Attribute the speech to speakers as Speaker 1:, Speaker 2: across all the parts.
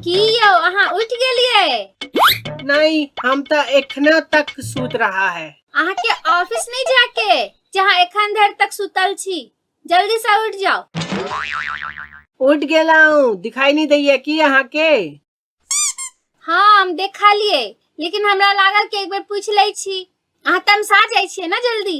Speaker 1: की यौ अहाँ उठि गेलियै नहीं हम तो एखने तक सूत रहा है अहाँ के ऑफिस नहीं जाके जहाँ एखन धरि तक सुतल छी जल्दी से उठ जाओ उठ गेला हूँ दिखाई नहीं दैया की अहाँ के हाँ हम देखा लिए लेकिन हमरा लागल कि एक बेर पूछ ले छी अहाँ तमसा जाइ छियै ना जल्दी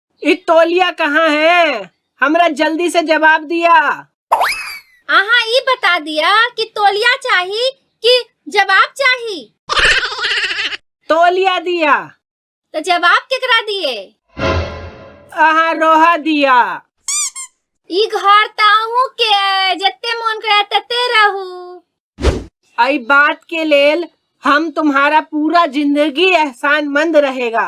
Speaker 1: ई तौलिया कहाँ है हमरा जल्दी से जवाब दिया अहाँ ई बता दिया कि तोलिया चाही कि जवाब चाही तौलिया दिया तो जवाब केकरा दिए अहाँ रोहा दिया ई घर त अहूँ के अइ, जते मोन करे तते रहू आई बात के लेल हम तुम्हारा पूरा जिंदगी एहसानमंद रहेगा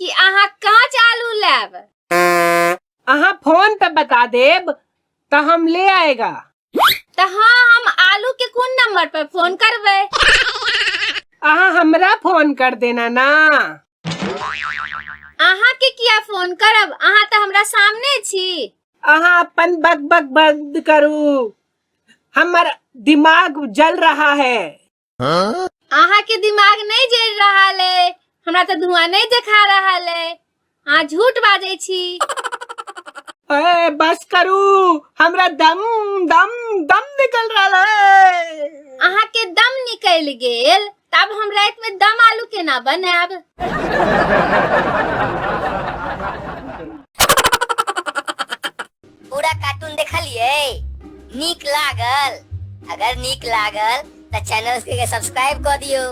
Speaker 1: कि अहाँ कांच आलू लेब अहाँ फोन पे बता देब त हम ले आएगा त हां हम आलू के कोन नंबर पर फोन करबै अहाँ हमरा फोन कर देना ना अहाँ के किया फोन करब अहाँ त हमरा सामने छी अहाँ अपन बक बक बंद करू हमर दिमाग जल रहा है अहाँ के दिमाग नहीं जल रहा है हमरा तो धुआं नहीं देखा रहा है अहाँ झूठ बाजे छी ए, बस करू हमरा दम दम दम निकल रहा है अहाँ के दम निकल गेल तब हम रात में दम आलू के ना बनाब पूरा कार्टून देखलिए नीक लागल अगर नीक लागल तो चैनल के सब्सक्राइब कर दियो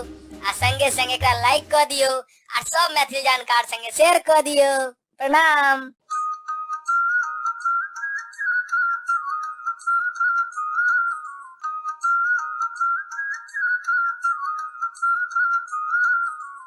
Speaker 1: आ संगे संगे एकरा लाइक कर दियो आ सब मैथिली जानकार संगे शेयर कर दियो प्रणाम